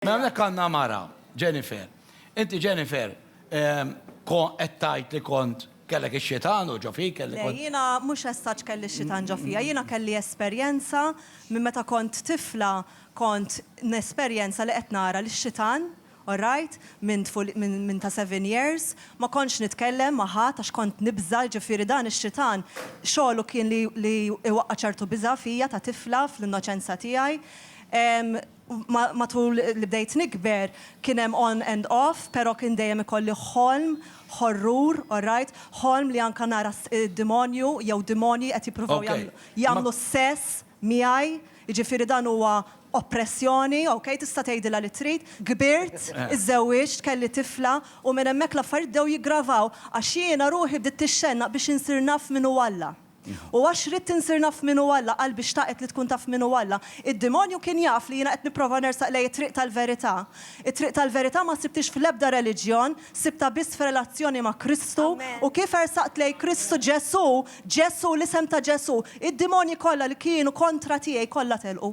Mela hawnhekk għandna mara, Jennifer. Inti Jennifer, kon qed tgħid li kont kellek ix-xitan u ġo fik, kelli Le, kont. jiena mhux as such kelli x-xitan ġo fija, jiena kelli esperjenza minn meta kont tifla kont nesperjenza li qed nara lix-xitan, alright, minn tful minn minn ta' seven years, ma kontx nitkellem ma' ħadd għax kont nibża', jiġifieri dan ix-xitan xogħlu kien li li iwaqqa' ċertu biża' fija ta' tifla fl-innoċenza tiegħi. Matul li bdejt nikber kien hemm on and off, pero kien dejjem ikolli ħolm horrur, alright, ħolm li anka nara demonju jew demonji qed jippruvaw jagħmlu s-sess miegħi, jiġifieri dan huwa oppressjoni, ok, tista' tgħidilha li trid. Kbirt, iżżewwiġt, kelli tifla u minn hemmhekk l-affarijiet bdew jiggravaw għax jiena ruħi bdiet tixxennaq biex insir naf min hu Alla. U għax ridt insir naf min hu Alla, qalbi xtaqet li tkun taf min hu Alla. Id-demonju kien jaf li jiena qed nipprova nersaq lejn it-triq tal-verità. It-triq tal-verità ma sibthiex fl-ebda reliġjon, sibtha biss f'relazzjoni ma' Kristu. U kif ersaqt lejn Kristu, Ġesù, Ġesù, l-isem ta' Ġesù, id-demonji kollha li kienu kontra tiegħi kollha telqu.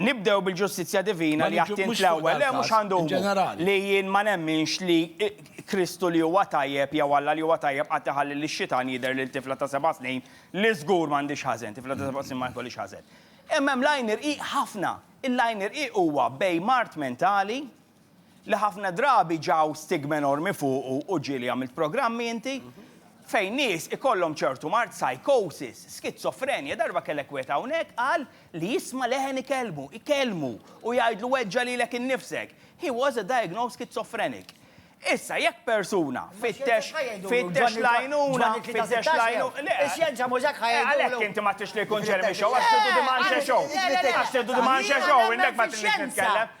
Nibdew bil-ġustizzja divina li għad int l-ewwel. Le, mhux għandu li jien ma nemminx li Kristu li huwa tajjeb jew Alla li huwa tajjeb qatt iħalli lix-xitan jidher lil tifla ta' seba' snin li żgur m'għandhiex ħażen, tifla ta' seba' snin ma jkollhiex ħażen. Imma hemm l-għajn irqiq ħafna. Il-għajn irqiq huwa bejn mard mentali, li ħafna drabi ġaw stigma enormi fuqu u ġieli għamilt programmi inti, fejn nies ikollhom ċertu mard, psychosis, skizofrenja, darba kellek wieħed hawnhekk qal li jisma' leħen ikellmu, ikellmu, u jgħidlu weġġa' lilek innifsek. He was a diagnosed schizophrenic. Issa jekk persuna fittex, fittex l-għajnuna, fittex l-għajnuna, le, Ix-xjenza mhux hekk ħa jgħidulu. Għalhekk inti ma tridx li jkun Jeremy Show, għax tridu Dimanche Show. Għax tridu Dimanche Show, innek ma tridniex nitkellem.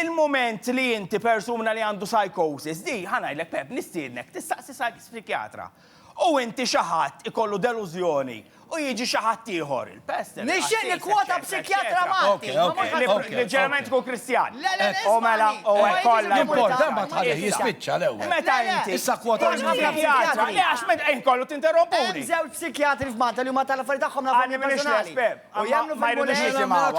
Il-mument li inti persuna li għandu psychosis, di, ħa ngħidlek Pepp, nistiednek tistaqsi psy-psikiatra. U inti xi ħadd ikollu delużjoni u jiġi xi ħadd ieħor, il-pest, il-qassis, eċċetera, eċċetera. Nixtieq nikkwota psikjatra Malti, ma mhux ħadd ieħor. Li ġeneralment ikun Kristjan. Le, le, le, ismagħni. U hekk kollha. L-import, imbagħad tħallieh jispiċċa l-ewwel. Meta inti. Issa kwota minn ħafna psikjatri. Le, għax meta inkollu tinterrompuni. Hemm żewġ psikjatri f'Malta li huma tal-affarijiet tagħhom nafhom jien personali. U jagħmlu ma jridux jisimgħuha.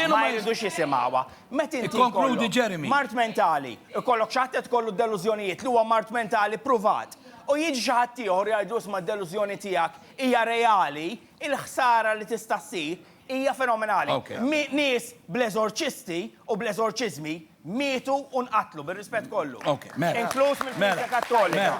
Ma jridux jisimgħuha. Meta inti Ikkonkludi Jeremy. Mart mentali, ikollok xi ħadd qed ikollu d-delużjonijiet li huwa mart mentali ppruvat, u jiġi xi ħadd ieħor jgħidlu isma' d-delużjoni tiegħek hija reali, il-ħsara li tista' ssir hija fenomenali. Nies bl-eżorċisti u bl-eżorċiżmi mietu u nqatlu, bir-rispett kollu. Inkluż mill-Knisja Kattolika.